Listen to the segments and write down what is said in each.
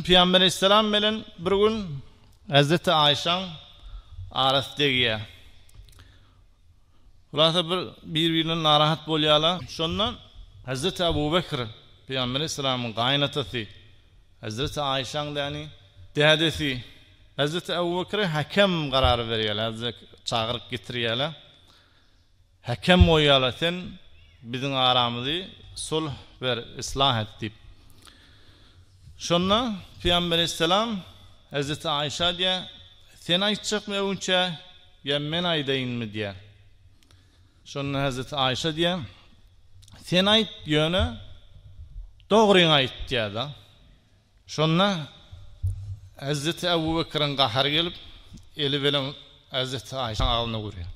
Pygamber aleýhissalam bilen bir gün Hezreti Aýşaň arasy degýär. Hulasa bir bir-birinden narahat bolýarlar. Şonda Hezreti Abu Bekr Pygamber aleýhissalamyň gaýynatasy, Hezreti Aýşaň däni dädesi Hezreti Abu Bekre häkem garary berýärler, çagyryp getirýärler. Häkem goý ýala sen biziň aramyzy sulh ber, yslah et diýip. Şonda Pygamber aleýhissalam Hezreti Aişa diýýär, Sen aýtjakmy öňçä ýa men aýdaýynmy diýýär. Şonda Hezreti Aişa diýýär, Sen aýt, ýöne dogryňy aýt diýýär-de. Şonda Hezreti Ebubekiriň gahary gelip, eli bilen Hezreti Aişaň agzyna urýar.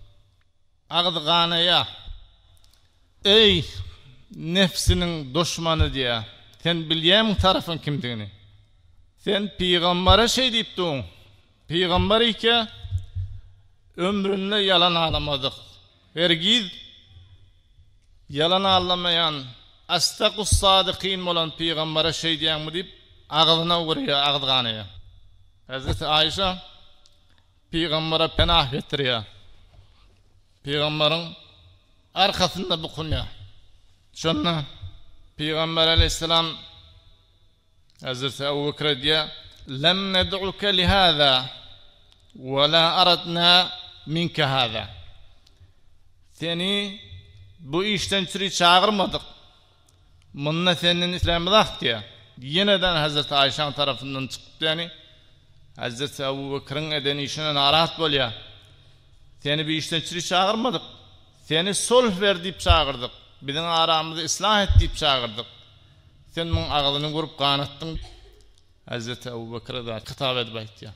Agzy ganaýa. Eý, nebsiniň duşmany diýä. Sen bilýämiň tarapyň kimdigini? Sen pygambara şeý diýip duň. Pygambar ike ömründe ýalan alamadyk. Hergiz ýalan allamaýan Asdakussadykin bolan pygambara şeý diýäňmi diýip agzyna urýa agzy ganaýa. Hezreti Aýşa. Pygambere penah getirýär. Pygamberiň arkasynda bukunýar. Şonda Pygamber aleýhissalam Hezreti Abu Bekre aýdýar, Lem ned'uke li hâzâ ve lâ aradnâ minke hâzâ. Seni bu işden çüri çagyrmadyk. Munda senden islämiz ak diýýär. Ýeneden hezreti Aýşaň tarapyndan çykypdyýani, hezreti Abu Bekriň eden işine narahat bolýar. Seni bu işden çüri çagyrmadyk. Seni sulh ber diýip çagyrdyk. Biziň aramyzy islah et diýip çagyrdyk. Sen muň agzyny gurup ganatdyň. Hezreti Abu Bekir-e zat hitap edip aýtýar.